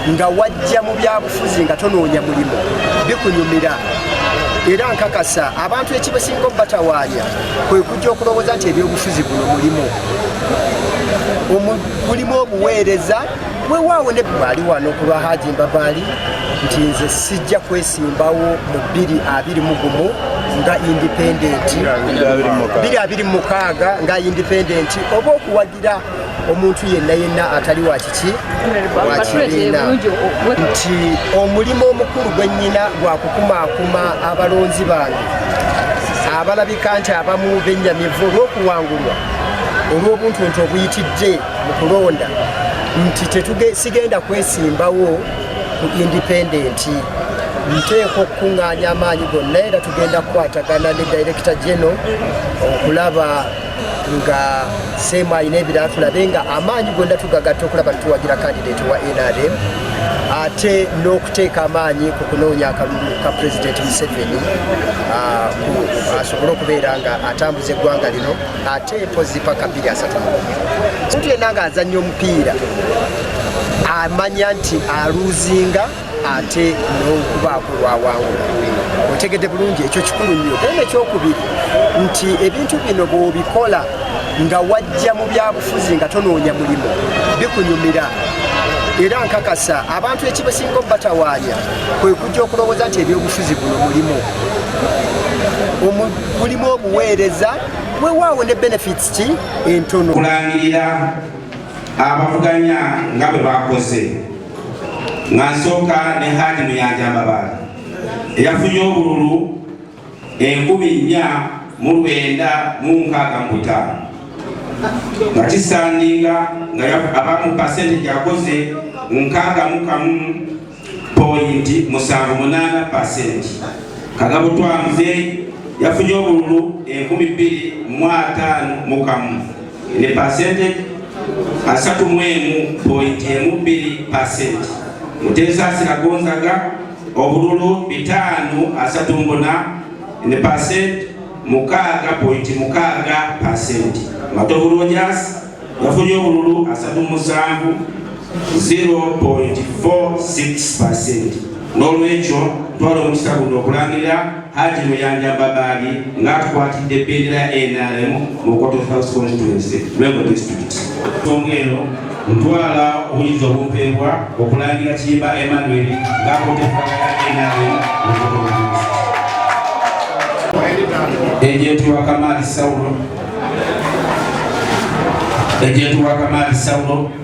nga wajja mu byabufuzi nga tonoonya mulimu bikunyumira era nkakasa abantu ekibasinga obubatawaanya kwe kujja okulowooza nti ebyobufuzi buno mulimu mulimu obuweereza wewaawo ne bwali wano ku lwa haji mbabaali nti nze sijja kwesimbawo mu bbiri abiri mu gumu nga indipendenti biri abiri mu mukaaga nga indipendenti oba okuwa era omuntu yenna yenna atali wa kiki wakibiina nti omulimu omukulu gwennyina gwa kukumaakuma abalonzi bange abalabika nti abamu bennyamivu olw'okuwangulwa olw'obuntu nti obuyitidde mu kulonda nti sigenda kwesimbawo ku indipendenti nteeka okukuŋŋaanya amaanyi gonna era tugenda kukwatagana ne direkita geno okulaba nga seemu alina ebirala tulabe nga amaanyi gonda tugagatta okulaba nituwagira kandidate wa nrm ate n'okuteeka amaanyi ku kunoonya akalulu ka pulezidenti museveni ah, asobole okubeera nga atambuza eggwanga lino ate mpozi paka bbiri asatu omuntu yenna nga azannya omupiira amanya nti aluuzinga ate n'okubaako lwawangula otegedde bulungi ekyo kikulu nnyo era nekyokubiri nti ebintu bino bwobikola nga wajja mu byabufuzi nga tonoonya mulimu bikunyumira era nkakasa abantu ekibasinga obubatawaanya kwe kujja okulowooza nti ebyobufuzi buno mulimu mulimu obuweereza wewaawo ne benefits ki entono kulangirira abavuganya nga bwe bakoze nga nsooka ne Haji Muyanja Mbabaali eyafunye obululu enkumi nnya mu lwenda mu nkaaga mu butaano nga kisandinga nga abamu pasente gyakoze nkaaga mu kamu poyinti musanvu munaana pasenti kagabo twamuzeeyi yafunye obululu enkumi bbiri mu ataano mu kamu ne percentage asatu mu emu point emu bbiri percent Muteesa Siragonzaga obululu bitaano asatu mbuna ne percent mukaaga point mukaaga percent Matovu Rogers yafunye obululu asatu musanvu 0.46% n'olwekyo twala omukisa guno okulangirira haji muyanja babaali ng'atukwatidde bendera ya nrm mu koto south constituency lwego district songa eno ntwala obuyinza obumpeebwa okulangira kiyimba emmanuel ng'akoteaa nrm mu koto ejenti wa kamaali saulo ejenti wa kamaali saulo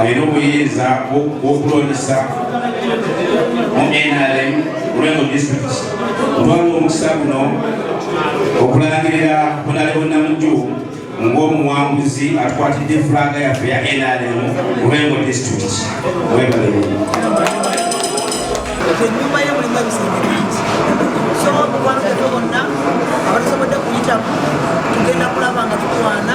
alina obuyinza bwokulondesa mu nrm lulengo district otwala omukisa guno okulangirira bunale bonnamujju ng'omuwanguzi atukwatidde fulaga yaffe ya nrm lulengo district webalemu enyumba ye mulimu ebizimbe bingi so mukwano gaffe bonna abatusobodde kuyitamu tugenda kulaba nga tukwana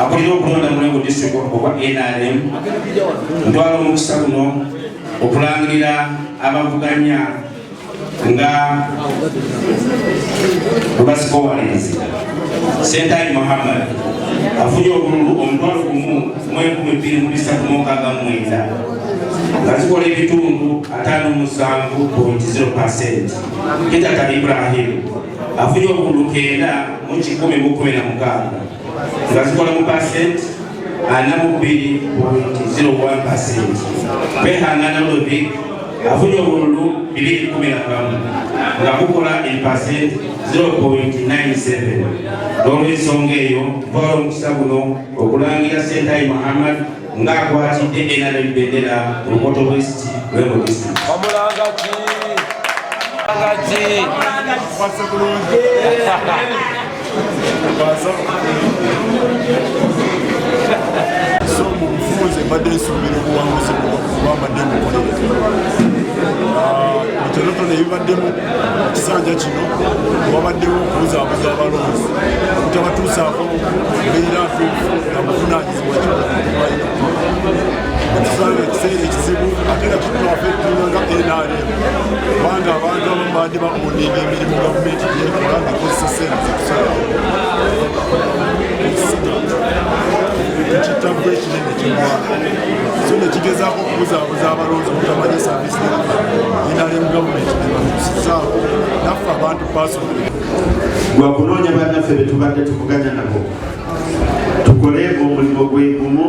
akulira okulonda mulengo district okwa nrm ntwala omukisa guno okulangirira abavuganya nga bwebazikowalenzi sentani muhammad afunye obululu omutwalo gumu mwenkumi bbiri mu bisatu mukaaga mwenda nga zikola ebitundu ataano musanvu point 0 percent kitata ibrahim afunye obululu kenda mu kikumi mu kumi na mukaaga nga zikola mu pasenti ana mu bbiri pointi zero one pasenti kwehangana lodrik afunye obululu bibiri kumi na kamu nga bukola empasenti zero pointi nine seven n'olwensonga eyo twala omukisa guno okulangira sentayi muhammad ng'akwatidde era n'ebbendera ku lukoto west lwebo district omulangaki so mu bufunze mbadde nsuubira obuwanguzi bwambadde mukolereza ebitonotono ebibaddemu ekisanja kino wabaddewo okubuzaabuza abalonzi okutabatuusaako mbeera ntuufu nabuvunaanyizibwa tusange ekiseera ekizibu ate nga kitulafe tulanga nrm kubanga abantu abamu bandi baoninga emirimu gavumenti gyekola nga ekozesa sente zetusobola ekitabbu ekinene kyegwanga so nekigezaako okubuzaabuza abalonzi obutamanya saavisi nrm gavumenti nebatusizaawo naffe abantu pasonal gwakunoonya banaffe betubadde tuvuganya nabo tukole omulimu gwegumu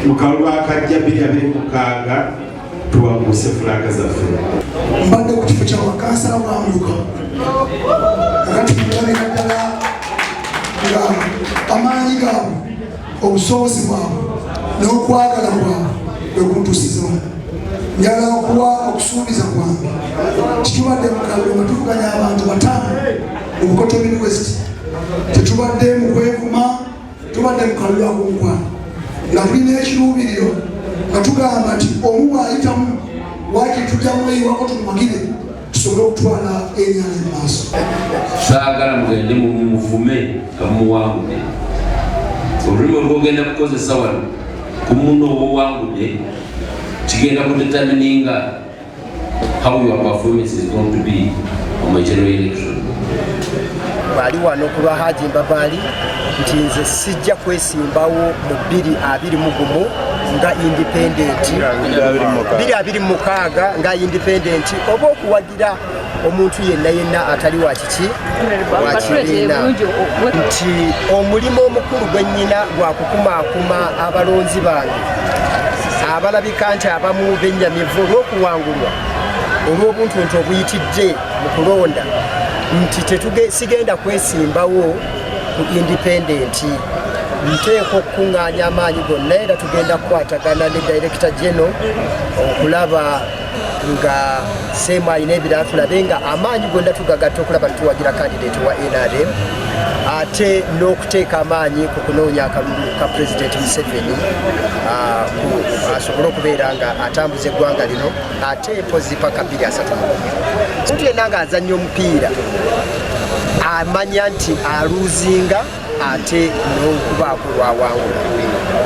mu kalulu akajja biri abiri mukaaga tuwanguse fulaga zaffe mbadde ku kifo kya bakansala bwamuluka kakati mulabira ddala nga amaanyi gaabwe obusobozi bwabwe n'okwagala bwabwe bwekuntusizamu njala okuwa okusuubiza kwange kitubadde mu kalulu nga tuvuganya abantu bataano Obukoto Mid West tetubadde mu kwevuma, tubadde mu kalulu ak'omukwano nga tulina ekiruubiriro nga tugamba nti omu bw'ayitamu waaki tujja mweyiwako tumumagire tusobole okutwala enyanja mu maaso. Saagala mugende mumuvume nga mumuwangudde olulimi olwogenda kukozesa wano ku muno obuwangudde kigenda kudetamininga How your performance is going to be on my general election. Bali wano kulwa Haji Mbabali nti nze sijja kwesimbawo mu bbiri abiri mu gumu nga independenti biri abiri mukaaga nga independenti oba okuwagira omuntu yenna yenna atali wa kiki wakibiina nti omulimu omukulu gwe nnyina gwa kukumaakuma abalonzi bange abalabika nti abamu bennyamivu olw'okuwangulwa olw'obuntu nti obuyitidde mu kulonda nti sigenda kwesimbawo ku indipendenti nteeka okukuŋŋaanya amaanyi gonna era tugenda kukwatagana ne direkita geno okulaba nga seemu alina ebirala tulabe nga amaanyi gonda tugagatta okulaba nituwagira kandidate wa nrm ate n'okuteeka amaanyi ku kunoonya akalulu ka pulezidenti museveni ah, asobole okubeera nga atambuza eggwanga lino ate mpozi paka bbiri asatu mulumu omuntu yenna nga azannya omupiira amanya nti aluuzinga ate n'okubaako lwawangula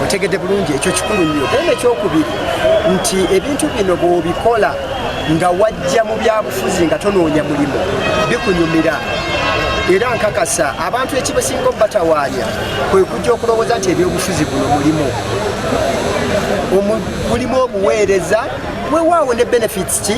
otegedde bulungi ekyo kikulu nnyo era nekyokubiri nti ebintu bino bwobikola nga wajja mu byabufuzi nga tonoonya mulimu bikunyumira era nkakasa abantu ekibasinga obubatawaanya kwe kujja okulowooza nti ebyobufuzi buno mulimu mulimu obuweereza wewaawo ne benefits ki